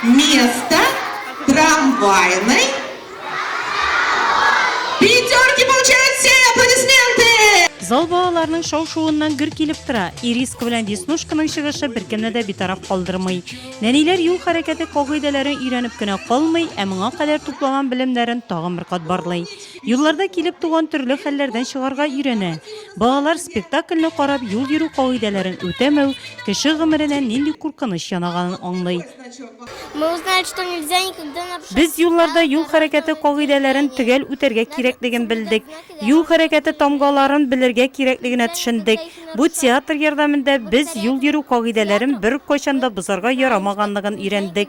Место трамвайной пятерки получают все! Аплодисменты! Зал балаларның шау-шуыннан гөр килеп тора. Ириска белән Веснушканың чыгышы беркемне дә битараф калдырмый. Нәниләр юл хәрәкәте кагыйдәләрен өйрәнеп кенә калмый, ә моңа кадәр туплаган белемнәрен тагын бер кат барлый. Юлларда килеп туган төрле хәлләрдән чыгарга өйрәнә. Балалар спектакльне карап юл йөрү кагыйдәләрен үтәмәү кеше гомеренә нинди куркыныч янаганын аңлый. Без юлларда юл хәрәкәте кагыйдәләрен төгәл үтәргә кирәклеген белдек, юл хәрәкәте тамгаларын белергә кирәклегенә төшендек. Бу театр ярдәмендә без юл йөрү кагыйдәләрен беркайчан да бозарга ярамаганлыгын өйрәндек.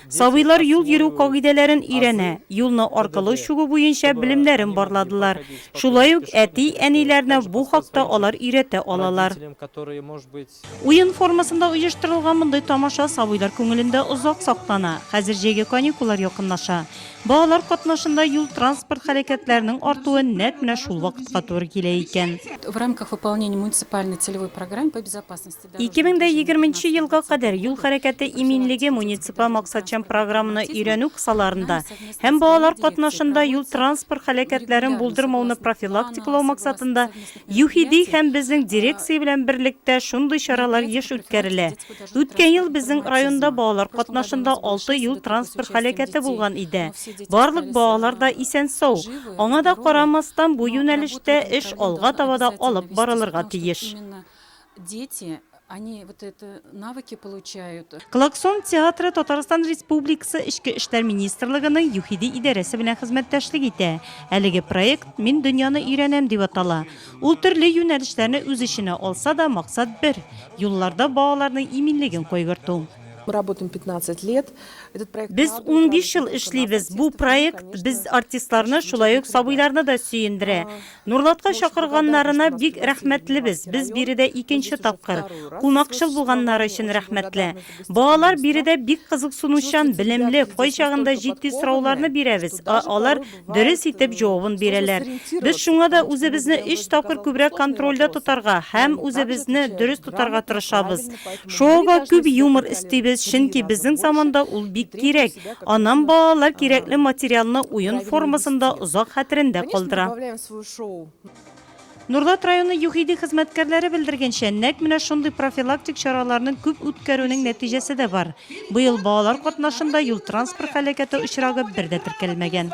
Сабыйлар юл йөрү кагыйдәләрен өйрәнә, юлны аркылы чугу буенча белемнәрен барладылар. Шулай ук әти, әниләрне бу хакта алар өйрәтә алалар. Уен формасында оештырылган мондый тамаша сабыйлар күңелендә озак саклана. Хәзер җәйге каникуллар якынлаша. Балалар катнашында юл-транспорт хәрәкәтләренең артуы нәкъ менә шул вакытка туры килә икән. 2020 нче елга кадәр юл хәрәкәте иминлеге муниципаль максатчан программаны өйрәнү кысаларында һәм балалар катнашында юл-транспорт һәлакәтләрен булдырмауны профилактикалау максатында ЮХИДИ һәм безнең дирекция белән берлектә шундый чаралар еш үткәрелә. Үткән ел безнең районда балалар катнашында алты юл-транспорт һәлакәте булган иде. Барлык балалар да исән-сау. Аңа да карамастан, бу юнәлештә эш алга таба да алып барылырга тиеш. Дети, они вот это навыки получают. Клаксон театры Татарстан Республикасы Эчке эшләр министрлыгының ЮХИДИ идарәсе белән хезмәттәшлек итә. Әлеге проект Мин дөньяны өйрәнәм дип атала. Ул төрле юнәлешләрне үз эченә алса да, максат бер, юлларда балаларның иминлеген кайгырту. Мы работаем 15 лет. Этот проект Без радует 15 ел развитием эшлибез. Бу артистов, проект конечно, без артистларны, шулай ук сабыйларны да сөендерә. Нурлатка чакырганнарына бик рәхмәтлебез, без биредә икенче тапкыр. Кунакчыл булганнары өчен рәхмәтле. Балалар биредә бик кызыксынучан, белемле, кайчагында җитди сорауларны бирәбез, ә алар дөрес итеп җавабын бирәләр. Без шуңа да үзебезне өч тапкыр күбрәк контрольдә тотарга һәм үзебезне дөрес тотарга тырышабыз. Шоуга күп юмор өстибез, чөнки безнең заманда ул бик кирәк. Аннан балалар кирәкле материалны уен формасында озак хәтерендә калдыра. Нурлат районы ЮХИДИ хезмәткәрләре белдергәнчә, нәкъ менә шундый профилактик чараларны күп үткәрүнең нәтиҗәсе дә бар. Быел балалар катнашында юл-транспорт һәлакәте очрагы бер дә теркәлмәгән.